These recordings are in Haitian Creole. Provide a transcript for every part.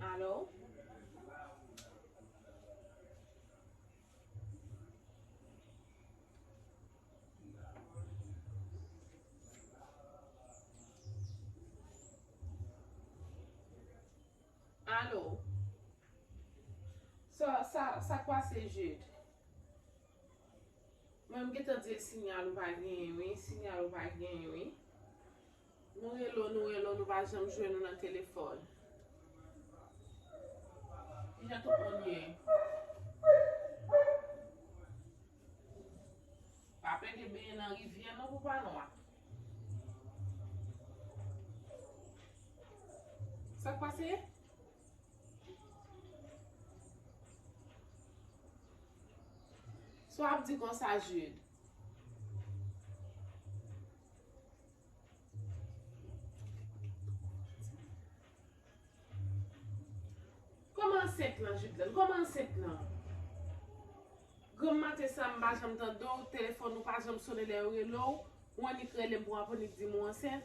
Alò? Alò? Sa, sa, sa k pase Jid? Mwen m gentan di l sinyal ou pa genyen wi, sinyal ou pa genyen wi. Nou rele w nou rele w nou pa janm jwenn ou nan telefòn. Kijan tout moun ye? Pa pede benyen nan rivyè non pou pa nwa. Sak pase? Sa w ap di konsa Jude? Koman ansent lan Judelène? Koman ansent lan? Granm maten sa m pa janm tande w, telefòn ou pa janm sone lè yo rele w, ou annik rele m pou w annik di m ou ansent?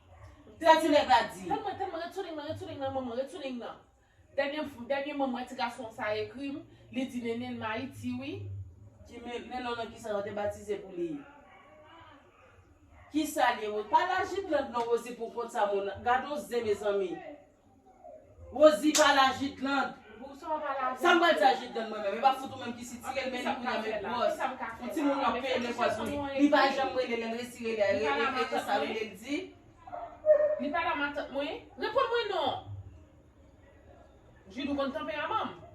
Tè ti nèg la di. Tann mwen tann mwen ret sou ling nan ret sou ling nan manman ret sou ling nan dènye dènye mwen mwen ti gason sa ekri m li di nene l m ayiti wi. Ki me melo nan kisa yo te batize pou li kisa l ye pa lajitland non rozi pou kont sa moun gadon zen mezanmi. Rosie pa la jidland. Sa m pral di a jidland mwen menm e pa fout ou menm ki sitire l men li kounya met gwòs on ti moun wap peye lekòl pou li li pa janm rele lèn resi rele a e e sa rele l di Li pa la matant mwen? Reponn mwen non! Jude ou konn tanperaman m.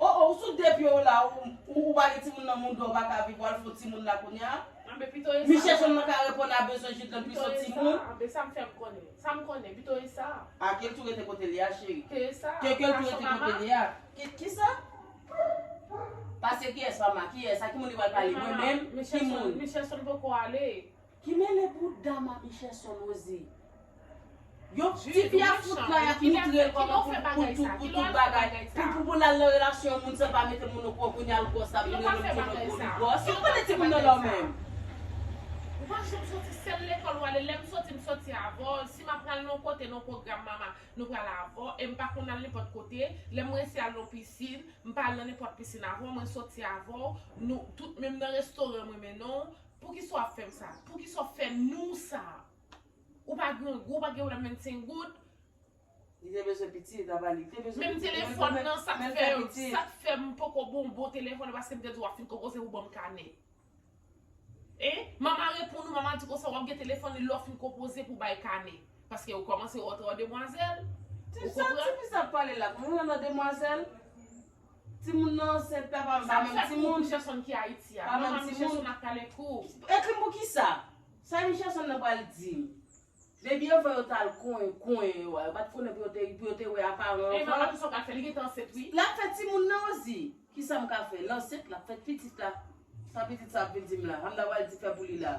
Oh oh ou sou de pye w la ou ou pa gen timoun nan moun dòw paka viv wal fon timoun la kounya Anbe pito esa Miche son nan ka reponn a bezwen Judeln pi sot timoun. Anbe sam fèm konnen sam konnen pito esa. Ah kel tou rete kotel ye a cheri. Ke esa Ke kel tou rete kotel ye a. Ki kisa? Pase kiyès mama kiyès a ki moun li pral pale mwen menm ki moun. Miche son poko ale. Ki mele bouda mamiche son nozi. Yo tifi a fout kay ap moutrel koman pou tout bagay pou pou lal nan relasyon yon moun san pa mete moun okouran kounya l gros la vin renmen moun ki lòt bò li gros yo konnen timoun nan lò menm. Ou pa janm soti sel lekol ou ale lem soti m soti avw si map pral nan kote nan program mama nou pral avw em pa konn al nenpot kote lem resi al nan piscine m pa al nan nenpot piscine avw mwen soti avw nou tout menm nan restoran mwen mennenw Poukisa w ap fè m sa? Poukisa w ap fè nou sa? Ou pa grangou, ou pa gen pwoblèm 25 goud. Li te bezwen pitit, apa li te bezwen pitit. Menm telefòn nan, sa k fè m, sa k fè m poko ba w bon telefòn nan paske m te di w ap fin konpoze pou ban m kanè. Hein? Mama reponn ou, mama di konsa w ap gen telefòn li lè w fin konpoze pou bay kanè. Paske ou kòmanse wè w trò demwazèl. Ou konprann? Ti fi sa ap pale la, kòmanse w nan demwazèl? Timoun nan ansent la pa menm timoun. Sa ki fè kou Michelson ki Ayiti a? Manman Michelson ap pale kou. Ekri m pou kisa? Sa Michelson nan pral di m? Baby yo fè yo t al kouyen yo a, yo pa t konnen pou yo te wè a paran anvan. E manman kisa w pral fè? Li gentan ansent wi. Lap fè timoun nan Rosie. Kisa m ka fè? L ansent, lap fè pitit la. Sa pitit sa ap vin di m la? Sa m ta pral di fè pou li la?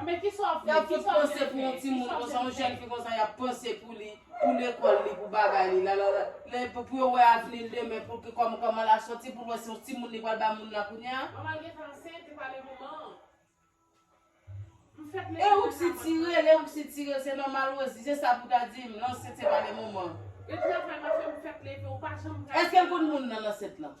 Yap fout panse pou yon timoun konsa, yon jèn fi konsa yap panse pou li, pou lekòl li, pou bagay li, lalala, lè pou yo wè avni l demen pou ki kòman kòman la soti pou l wè se yon timoun li pral ba moun la kounya. Manman l gentan ansent, li pale manman an. M fèk mete nan kabòt manman. E ou k sitirel, e ou k sitirel, se nòmal Rosie, se sa pou ta di m, l ansent se pale manman. Gen travay m ap fè m fèk leve ou pa janm pral. Eske l konn moun nan l ansent lan?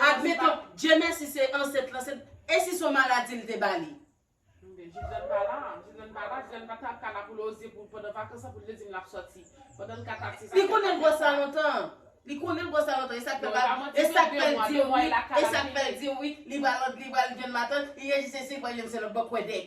Admeton Dye mèsi se ansent lan se e si son maladi li te ba li? Li konnen l bwè sa lontan an. Li konnen l bwè sa lontan e sak fè pa e sak fè l di wi e sak fè l di wi li ba lòt li ba l jwenn matant li rejise si l pa jwenn se lòt bò kwè dèk.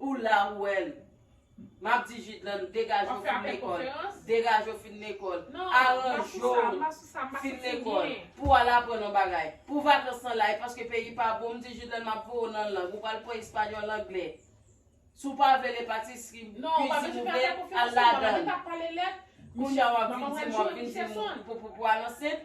Ou la ou wèl. Map di Jidlann degaje ou fin lekòl, degaje ou fin lekòl, aranje ou fin lekòl pou al aprann yon bagay. Pou vakans lan la e paske peyi pa bon, m di Jidlann map voye ou nan lang, ou pral pran espanyòl, anglè. Si w pa vle le patisri, kuizin ou vle, al ladann. Kounya wap vin di m wap vin di m pou al ansent.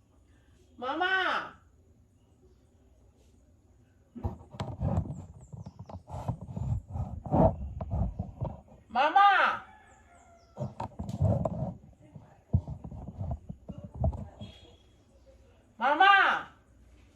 Mama! Mama! Mama!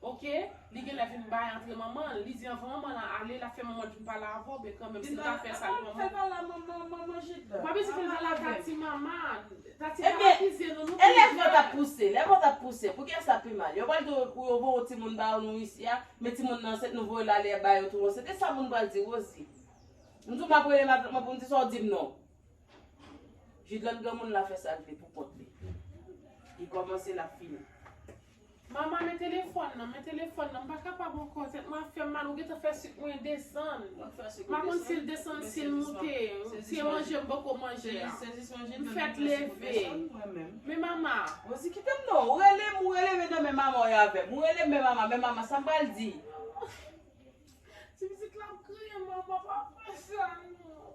Ok li genlè vin bay antre manman li di anvan manman lan ale lap fè manman vin pale avèw ben kanmenm sil ta fè sa pou manman ou pa bezwen fèl pale avèl tati mama tati pa akize nou nou pi jèn elèv lan tap pouse lèv lan tap pouse poukiyès lap pi mal yo pral di ou yo voye yon timoun ba nou isi a men timoun nan ansent nou voyel ale yap bayo tou ansent esa moun pral di Rosie m tou map rele madanm lan poum di sa ou dim non Jidlène granmoun la fè sal vle pou kont li li kòmanse lap fini. Mama men telefòn nan, men telefòn nan, m pa kapab ankò, tèt mwen ap fè m mal, ou gentan fè sik mwen desann, m pa konn si l desann si l moute, se manje m poko manje a, m fèt leve, men mama. Rozi kite m non, ou rele m, ou rele men nan men mama w ye avè m, ou rele m men mama, men mama, sa m pral di? Ti pitit la ap kriye, mama pa fè sa non.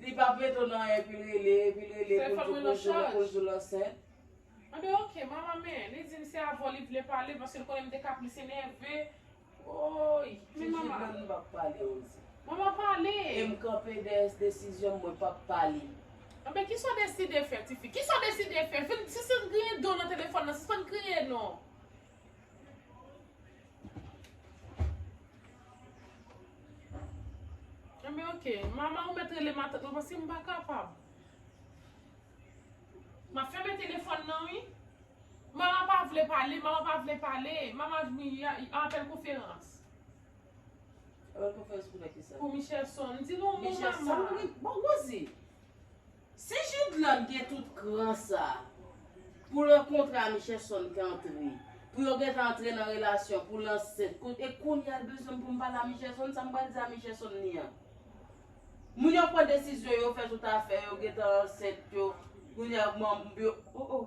Li pap rete w nan epi l rele epi l rele pou l di w pou l di w pou l di w l ansent. Anben ok mama men li di m se avè w li vle pale paske l konnen m te ka plis enève woy men mama. Ti Jidlène m pap pale on di. Mama pale. E m kanpe dèyè s desizyon m mwen pap pale. Anben kisa w deside fè tifi kisa w deside fè vin sispann griyen do w nan telefòn nan sispann kriye non. Enben ok, mama ou mèt rele matant mwen paske m pa kapab. M ap fèmen telefòn nan wi. Mama pa vle pale, mama pa vle pale. Mama di y a apèl konferans. Apèl konferans pou fè kisa? Pou Michelson. Di nou mou mama. Michelson? Bon Rosie! Si Judeland gen tout kran sa Pou lan kontra Michelson k antre Pou yo gentan antre nan relasyon Pou l ansent kot e kounya l bezwen m pou m pale a Michelson sa m pral di a Michelson li an Moun yo pran desizyon yo fè tout afè yo gentan ansent yo kounya yo oh oh.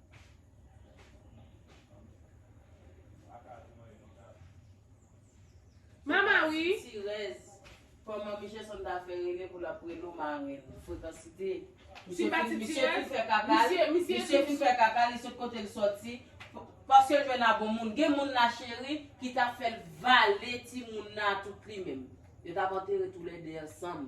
Mama wi. Sitirèz. Fò manmi Jason ta fè rele pou lap rele ou marenn. Frekansite. Misye pa ti tirèz. Misye fin fè kaka l. Misye fin fè kaka l, li sot kote l soti. Paske l jwenn a bon moun. Gen moun la cheri ki ta fè l vale timoun nan a tout li menm. Yo tap antere toulède ansanm.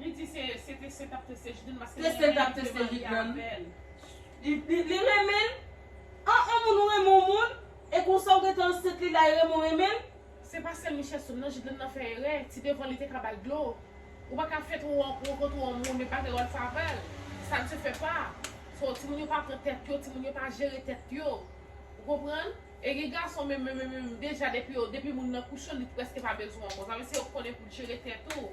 Li di se se teste tap teste jidane paske li renmen li vle marye avèl. Li renmen l ah on moun ou renmen on moun e konsa ou gentan ansent li lay renmen w renmen l. Se pa sèl Michelson nan Jidlène nan fè erè ti devan li te ka bal dlo ou pa ka fèt ou rankontre on moun epa gen rèls avèl sa ne se fè pa so timoun yo pa pran tèt yo timoun yo pa jere tèt yo ou konprann e gen gason menm menm menm deja depi yo depi moun nan kouche li prèske pa bezwen w ankò sa vle di se yo konnen pou jere tèt ou.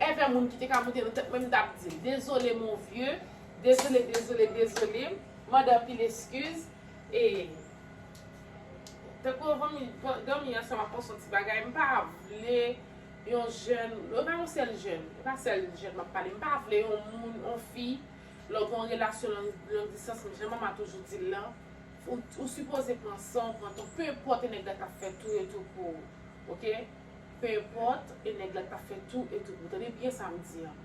Ever moun ki te ka moute nan tèt mwen m tap dil dezole mon vieux dezole dezole dezole mande anpil eskiz e tankou yo vomi domi ansanm ak on son ti bagay m pa vle yon jèn e pa yon sèl jèn e pa sèl jèn map pale m pa vle yon moun on fi lè w gen yon relasyon long distans jan mama toujou dil lan ou sipoze pran san w pran tan w penpòte nèg la tap fè tou e tou pou ou ok. Penenpòt e nèg la t ka fè tou e tou pou tande byen sa m di an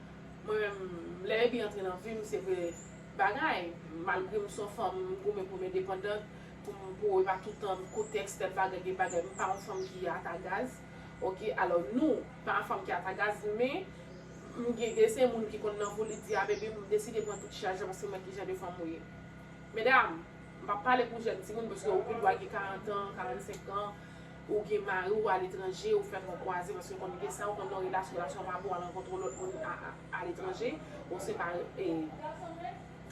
mwen menm lè Baby antre nan vi m se vre bagay malgre m son fanm m goumen pou m endepandant pou m pou e pa toutan koute ekstèm bagay gen bagay m pa yon fanm ki ata gaz ok alò nou pa yon fanm ki ata gaz men m gen desen moun ki konn nan vo li di a Baby m deside pran tout chaj la paske m wè kijan de fanm ou ye medam m pa pale pou jèn timoun paske ou gen dwa gen 40 an 45 an Ou gen mari ou aletranje ou fè fon kwaze paske ou konn gen sa ou konn nan relasyon relasyon an pa bon al rankontre yon lòt moun aletranje ou se pa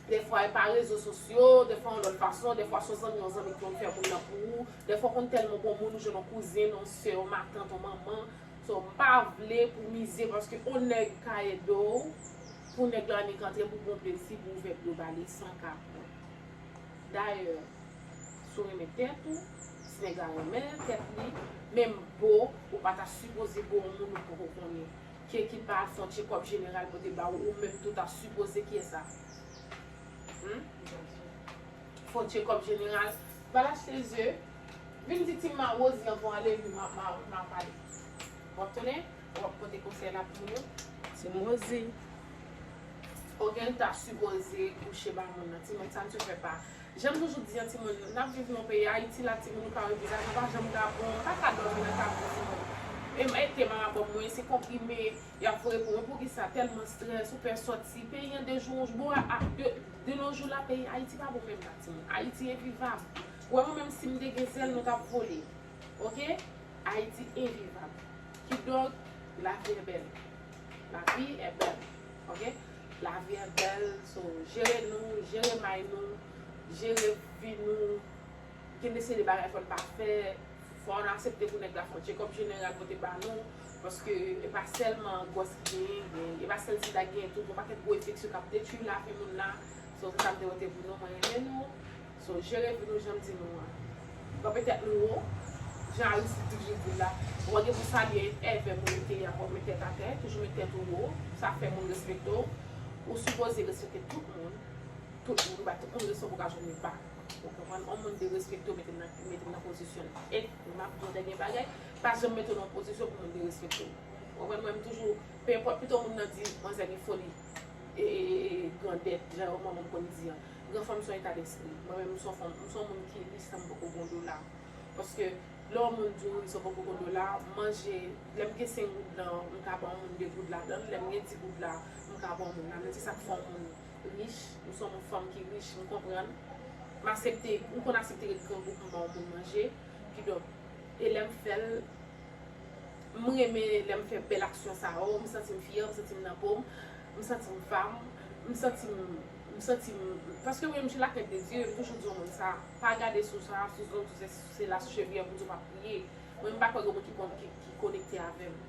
dèfwa e pa rezo sosyo dèfwa yon lòt fason dèfwa son zanmi yon zanmi ki konn fè moun nan pou ou dèfwa ou konn tèlman bon moun ou jwenn yon kouzin yon sè yon matant yon manman so m pa vle pou mize paske yon nèg ka ede w pou nèg la annik antre pou bon plezi pou ouvè dlo ba li san kapon dayè. Si w renmen tèt ou, ti nèg la renmen tèt li, menm bo ou pa ta sipoze bo yon moun ou poko konnen, ke ki pa al fon tchekòp jeneral pote ba ou, ou menm tou ta sipoze kiyès sa hum fon tchekòp jeneral, pa al achte ze, vin di ti ma Rosie ankò ale li ma ma pale wap tande, wap pote konsèy la pou moun yo, ti m Rosie ok l ta sipoze kouche ba moun nan, ti nèg sa misye fè pa. Janm toujou di an timoun nap viv nan peyi ayiti la timoun nou ka repoze nou pa janm ka bon paka domi nan kay pou timoun e m ete marabòm mwen se konprime yap voye pou mwen poukisa telman stress ou pè soti peyi an de jou an jou bon a de nos jours la peyi ayiti pa bon menm nan timoun ayiti envivab ou wè mwen menm sim te gen zèl mwen tap vole ok ayiti envivab kidonk lavi e bèl lavi e bèl. ok lavi an bèl so jere nou jere may nou jere vi nou gen de seri de bagay fòn pa fè fòn asepte pou nèg la fè yon tchekòp jeneral pote ba nou paske e pa sèlman gwòs ki genyen gen e pa sèl sida ki genyen tout gon pakèt gwo enfeksyon kap detwi lavi moun la so se sa m te wè te pou nou mwen renmen nou. So jere vi nou janm di nou an. Kanpe tèt nou wo, jan Aristide di Jibril la, wap gen pou salye èvè moun ou te ye a fòk met tèt atè, toujou met tèt ou wo, sa fè moun respekte w, ou sipoze respekte tout moun, tout moun, ou bay tout moun respè pou ka jwenn yon pa, ou konprann, yon moun derespekte w mete l nan pozisyon l, et map di w dènye bagay, pa janm mete w nan yon pozisyon pou moun derespekte w, ou konprann, mwen m toujou, penenpòt pito moun nan di manzè gen foli. E e e e grandèt, jan yon manman m konn di an. Gran fanm s on eta despri. Mwen menm m s on fanm, m s on moun ki ri san m poko gon dola. Paske lè yon moun di w ri san w poko gon dola, manje, lè m gen 5 goud lan, m ka ban yon moun 2 goud ladan l, lè m gen 10 goud la, m ka ban yon moun ladan l. Se sa k fè yon moun rich, m s on fanm ki rich, m konprann. M asepte, m konn asepte ret grangou pou m ban yon moun manje. Kidonk, e lè m fè l, M renmen lè m fè bèl aksyon sa yo, m santi m fyè, m santi m nan po m, m santi m vam, m santi m, m santi m, paske mwen m sou lakrent de Dye, m toujou di yon moun sa, pa gade sou sa, sou zong, sou sèsi, sou sela, sou chevyè Bondye w pa priye, mwen m pa kwè gen yon moun ki ki konekte avè m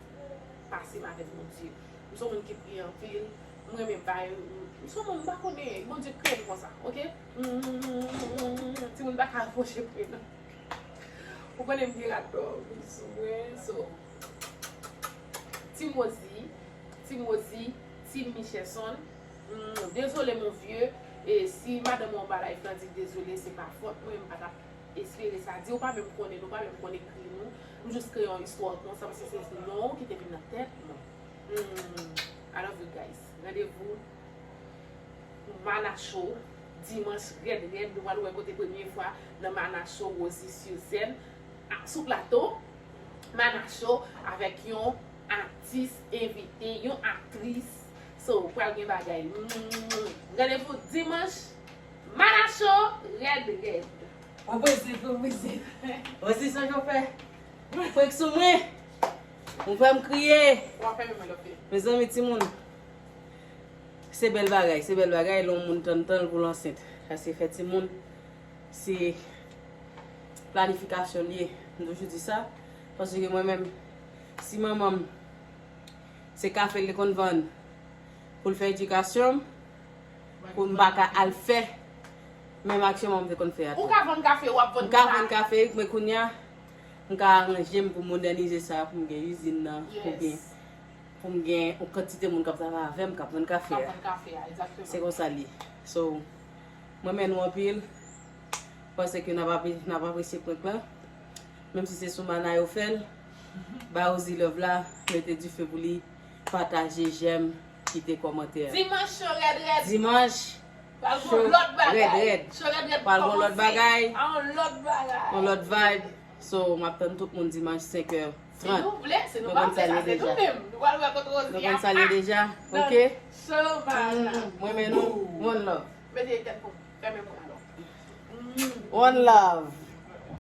pase m avèk Bondye, m son moun ki priye anpil, m renmen bay, m son moun m pa konnen, Bondye kreye m konsa ok, humm, timoun pa ka apwoche pre m. Ou konnen m gen rat dò wi sou mwen so Team Rosie Team Rosie Team Michesson humm dezole mon vieux e si madanm ou anba live lan di dezole se pa fòt mwen m pa tap espere sa di ou pa menm konnen nou pa menm konn ekri nou m jus kreye yon istwa konsa paske se non ou ki te vin nan tèt mwen humm I love you guys randevou. Mana show dimanch rèd rèd nou pral wè kote premye fwa nan mana show Rosie sur scène sou plato mana show avèk yon atis envite yon aktris so pral gen bagay randevou dimanch mana show rèd rèd. Bon pwezi pou mizik Rosie sonje w fè frenk sou mwen ou fè m kriye mezanmi timoun. Se bèl bagay, se bèl bagay lè yon moun tann tan l pou l ansent. Sa se fè timoun, se planifikasyon l ye. M toujou di sa, paske mwen menm, si manman m se kafe l te konn vann pou l fè edikasyon m, pou m pa ka al fè menm aksyon manman m te konn fè a tou. Ou ka vann kafe, w ap vann sa. M ka vann kafe, men kounye a, m ka aranje m pou m modènize sa, pou m gen izin nan, pou m gen. Pou m gen yon kantite moun k ap travay avè m k ap vann kafe a. Se konsa l ye. So, m renmen nou anpil. M panse ke n ap apresye prank lan. Menm si se sou Mana yo fè l. Ba Rosie love la. Mete dife pou li. Pataje, jèm, kite kòmantè. Dimanch cho rèd rèd. Dimanch cho rèd rèd. Pral gen yon lòt bagay. Pral gen yon lòt bagay. Yon lòt bagay. Yon lòt vibe. So map tann tout moun dimanch 5 heure 30 nou konn sa liye deja nou konn sa liye deja ok m renmen nou one love one love.